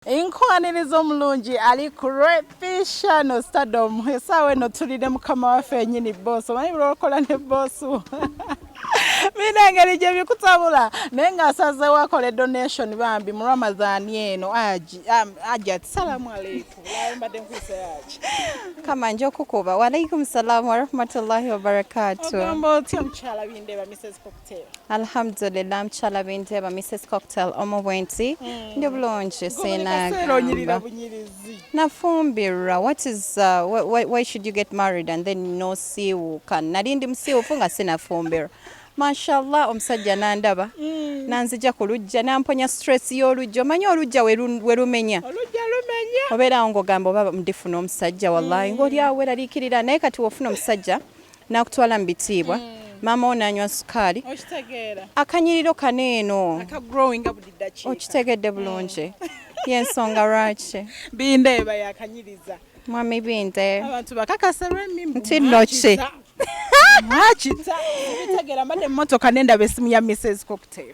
Enkwaniriza omulungi ali ku repisha no stardom esaawa eno tuli ne mukama waffe yenyini boosi omanyi bulwokola ne boosi mina engeri gye bikutabula naye nga asazeewo akole donation bambi mu ramadan eno aji ati salamu aleikum mbadde nkuyisa yaki kama nja okukuba waalaikum salaamu warahmatullahi wabarakatu ogamba otya mukyala bindeba mises alhamdulillah mukyala bindeba mrs cocktail omu bwenti hmm. ndi bulungi sinagamba nafumbirwa what is uh, why, why should you get married and then nosiiwuuka nali ndi musiiwufu nga sinafumbirwa mashallah omusajja nandaba hmm. nanzija ku lujja namponya stress y'olujja omanyi olujja werumenya obeerawo ngaogamba oba ndifuna omusajja wallahi hmm. ngaoli awo weraliikirira naye kati wofuna omusajja nakutwala mu bitiibwa mm. maama wo nanywa sukaali akanyiriro kano eno okitegedde bulungi mm. yensonga lwaki bindeeba yakanyiriza mwami binde abantu bakakasa lwemi nti noki mwakita ebitegeera mbadde emmotoka nendaba esimu ya mrs cocktail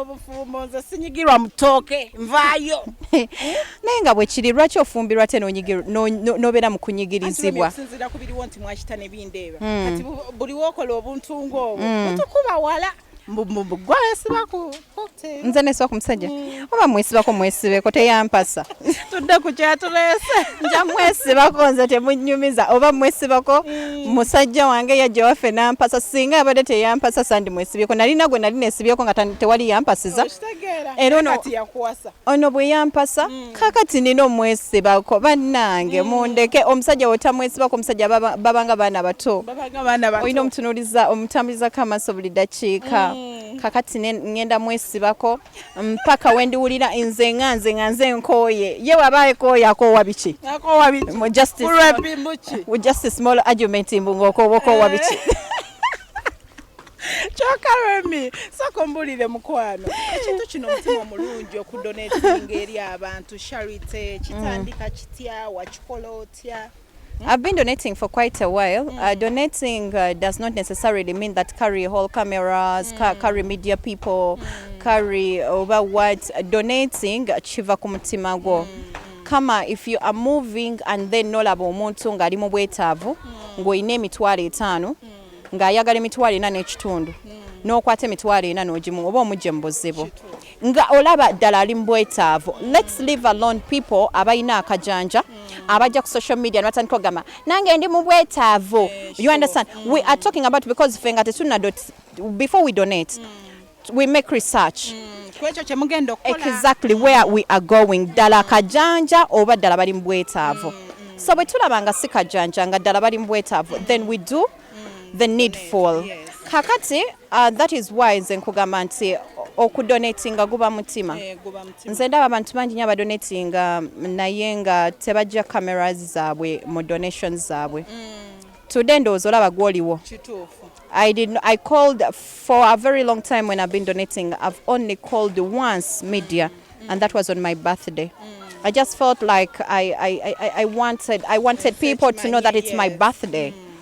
obufumbo nze sinyigirwa mutooke nvaayo naye nga bwekiri lwaki ofumbirwa te nobeera mukunyigirizibwa osinzira ku biriwo nti mwakita nebindeeba hmm. kati buli wokola obuntu ngaobwo hmm. otukuba wala nze nesibako musajja hmm. oba mwesibako mwesibeko teyampasa tudde ku kyatulese nja mwesibako nze temunyumiza oba mwesibako mm. musajja wange yajja waffe nampasa singa abadde teyampasa sandi mwesibyeko nalina gwe nali nesibyeko nga tewali yampasiza era ono bwe yampasa mm. kakati nina omwesibako bannange mm. mundeke omusajja wotamwesibako omusajja babanga baana bato olina omutunuliza omutambulizako amaaso buli dakiika kakati ngenda mwesibako mpaka wendiwulira nze nga nze nga nze nkooye ye waba ekooye akoowa biki just a small argument mbu ng'okoowa okoowa biki eh. kyoka remi soko mbulire mukwano ekintu kino omutima omulungi okudonatinga eri abantu charity kitandika kitya wakikola otya I've been donating for quite a while. Mm. Uh, donating uh, does not necessarily mean that carry whole cameras, mm. ca carry media people, mm. carry over what. Donating chiva kumutima go. Mm. Kama if you are moving and then nolaba omuntu ng'ali mu bwetaavu mm. ng'olina emitwalo etaano mm. ng'ayagala emitwalo ena n'ekitundu mm. n'okwata emitwalo ena n'ogimu oba omugye mu buzibu. nga olaba ddala ali mu bwetaavu lets live alone people abalina akajanja abajja ku social media nebatandika ogamba nange ndi mu bwetaavu you understand we are talking about because fe nga tetuna before we donate we make research kwekyo kyemugenda okukola exactly where we are going ddala kajanja oba ddala bali mu bwetaavu mm, mm. so bwe tulaba nga si kajanja nga ddala bali mu bwetaavu then we do the needful kakati Uh, that is why nze nkugamba nti okudonatinga guba mutima eh, nze ndaba abantu bangi nyo abadonatinga naye nga tebajja cameras zaabwe mu donations zaabwe mm. today ndowooza olaba gwoliwo I, did, I called for a very long time when I've been donating. I've only called once media, mm. and that was on my birthday. Mm. I just felt like I, I, I, I wanted, I wanted people to know that it's my birthday. Mm.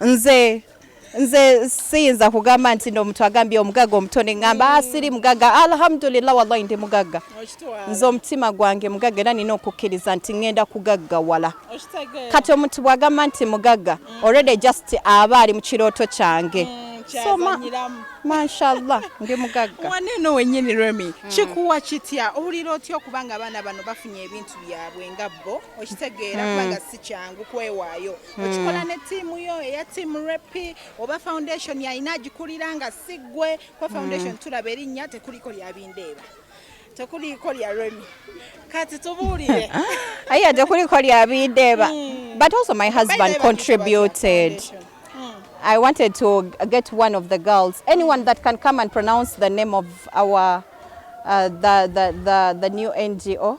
nze nze siyinza kugamba nti no omuntu agambye omugaga omuto neŋamba asiri ah, mugaga alhamdulillah wallahi ndi mugaga nze omutima gwange mugaga era nina okukkiriza nti ŋenda kugaggawala kati omuntu bwagamba nti mugaga mm. already just aba ali mu kirooto kyange mm. kyazanyiramu mashallah ndi mugagga wane eno wenyini remi mm. kikuwa kitya owulira otya okuba nga abaana bano bafunye ebintu byabwe nga bo okitegeera mm. kubanga si kyangu kwewaayo hmm. okikola ne tiimu yo eya tiimu repi oba foundation yalina agikulira nga si ggwe kuba foundation hmm. tulaba erinnya tekuliko lyabindeeba tekuliiko lya remi kati tubuulire aye tekuliiko lya bindeeba hmm. but also my husband contributed I wanted to get one of the girls, anyone that can come and pronounce the name of our uh, the, the, the, the new NGO.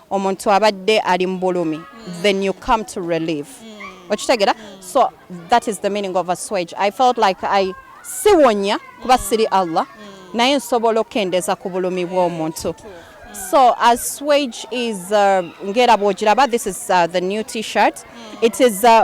omuntu abadde ali mubulumi mm. then you come to relieve mm. okitegera mm. so that is the meaning of aswage i felt like i siwonya kuba mm. siri allah mm. naye nsobola okukendeza ku bulumi bw'omuntu eh, mm. so aswage is uh, ngera bwogiraba this is uh, the new t-shirt mm. it is uh,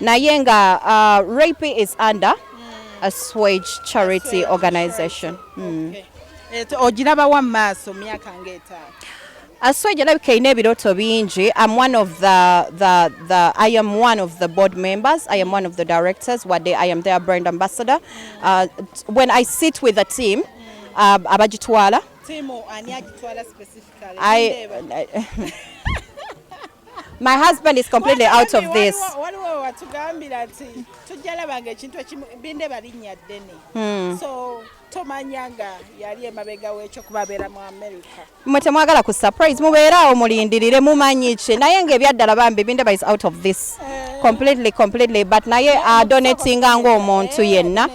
naye nga uh, rape is under a swage charity organization hmm. eh, ogiraba wa maaso myaka ngaetaano aswege alabika erina ebirooto bingi am one of the, the, the, i am one of the board members i am one of the directors wadde i am their brand ambassador uh, when i sit with a team uh, abagitwala My husband is completely out of this. Waliwo watugambira nti tujja labanga ekintu ekimu binde balinnya ddene. Hmm. So tomanya nga yali emabega w'ekyo kuba abeera mu America. Mwe temwagala ku surprise mubeere awo mulindirire mumanyi ki naye nga ebyaddala bambi binde is out of this eh. completely completely but naye adonatinga eh, ng'omuntu eh, yenna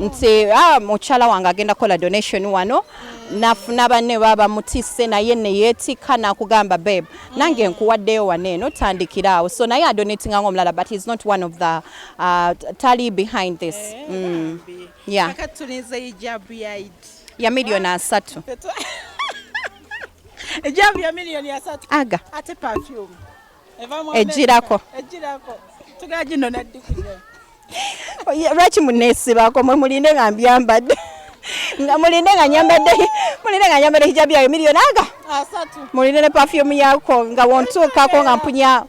nti ah, mukyala wange agenda kukola donation wano hmm. nafuna banne baba mutisse naye neyeetikka nakugamba babe nange nkuwaddeyo wano eno tandikira awo so naye adonatinga nga omulala but he's not one of the uh, tally behind this eh, mm. yeah. ya miliyoni asatu ejabu ya miliyoni asatu aga ate perfume ejirako ejirako tugajino naddikiyo lwaki muneesibako mwe mulinde nga mbyambadde nga mulinde nga nyambadde mulinde nga nyambadde hijabu yayo miliyoni aga mulinde ne pafyumu yako nga wontuukako nga mpunya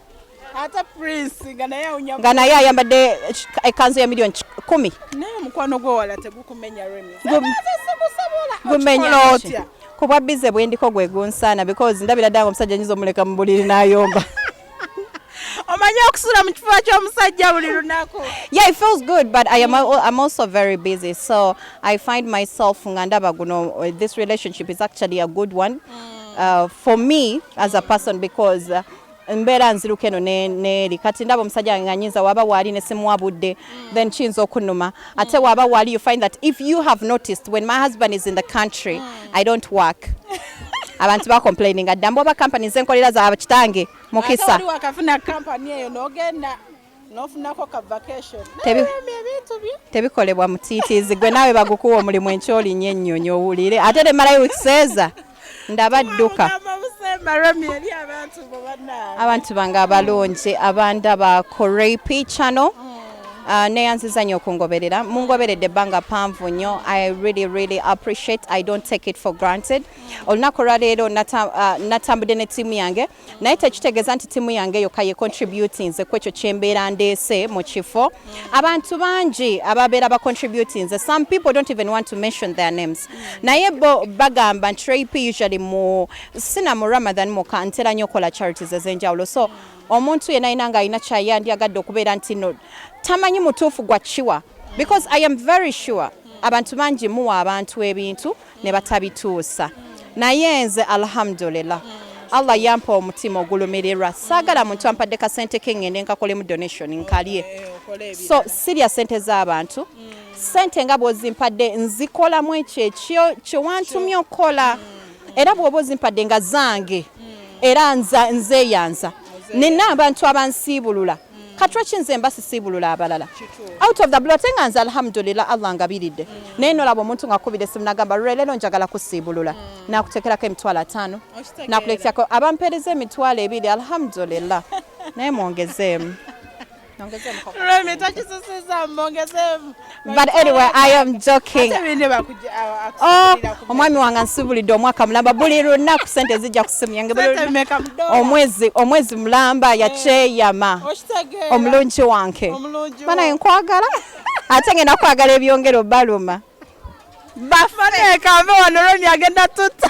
nga naye ayambadde ekanzu ya miliyoni kumi kubwa bize bwendiko gwegunsaana because ndabira ddanga omusajja nyinza omuleka mu buliri nayomba omanyi okusula mu kifuba ky'omusajja buli lunaku yeah it feels good but I am, I'm also very busy so I find myself nga ndaba guno uh, this relationship is actually a good one mm. uh, for me as a person because uh, mbeera nziruka eno neeri kati ndaba omusajja nga nyinza waba waali ne simuwa budde mm. then kiyinza okunuma ate waba wali you find that if you have noticed when my husband is in the country i don't work abantu bacomplaininga dda mboba company zenkolera za kitange mukisa tebikolebwa mutiitiizi gwe naawe bagukuwa omulimu enkyolinya ennyonyi owulire ate temalayo wikiseeza ndaba dduka abantu bange abalungi abanda ba korepi channel mm. Uh, neyanziza nyo okungoberera mungoberedde ebbanga panvu nyo i really really appreciate i don't take it for granted olunaku olwaleero uh, natambudde ne tiimu yange naye tekitegeeza nti tiimu yange yokka ye contributinze ku ekyo kyembeera ndeese mu kifo abantu bangi ababeera ba contributinze some people don't even want to mention their names naye bo bagamba nti rap usually mu sina mu ramadan muka ntera nyo okola charities ez'enjawulo so omuntu yena yena nga alina kyayandyagadde okubeera nti no tamanyi mutuufu gwa kiwa because i am very sure abantu bangi muwa abantu ebintu ne batabituusa naye nze alhamdulillah allah yampa omutima ogulumirirwa saagala muntu ampadde kasente ke ŋŋende nkakolemu donation nkalye so sirya sente z'abantu sente nga bw'ozimpadde nzikolamu ekyo ekyo kye wantumye okukola era bw'oba ozimpadde nga zange era nzeeyanza nina abantu abansiibulula katula kinze mba sisiibulula abalala out of the blue ate nga nze alhamdulillah allah ngabiridde mm. naye nolaba omuntu ngakubira esimu nagamba lule leero njagala kusiibulula mm. nakutekerako emitwalo ataano nakulekerako abampeereza emitwalo ebiri alhamdulillah naye mwongezeemu mwongezeemu but anyway i am joking oh, omwami wange nsubulidde omwaka mulamba buli lunaku sente zijja ku simu yange omwezi omwezi mulamba eh. yakyeyama omulungi wange banaye nkwagala ate ngenda kwagala ebyongero baluma bafanekambe wano loni agenda tuta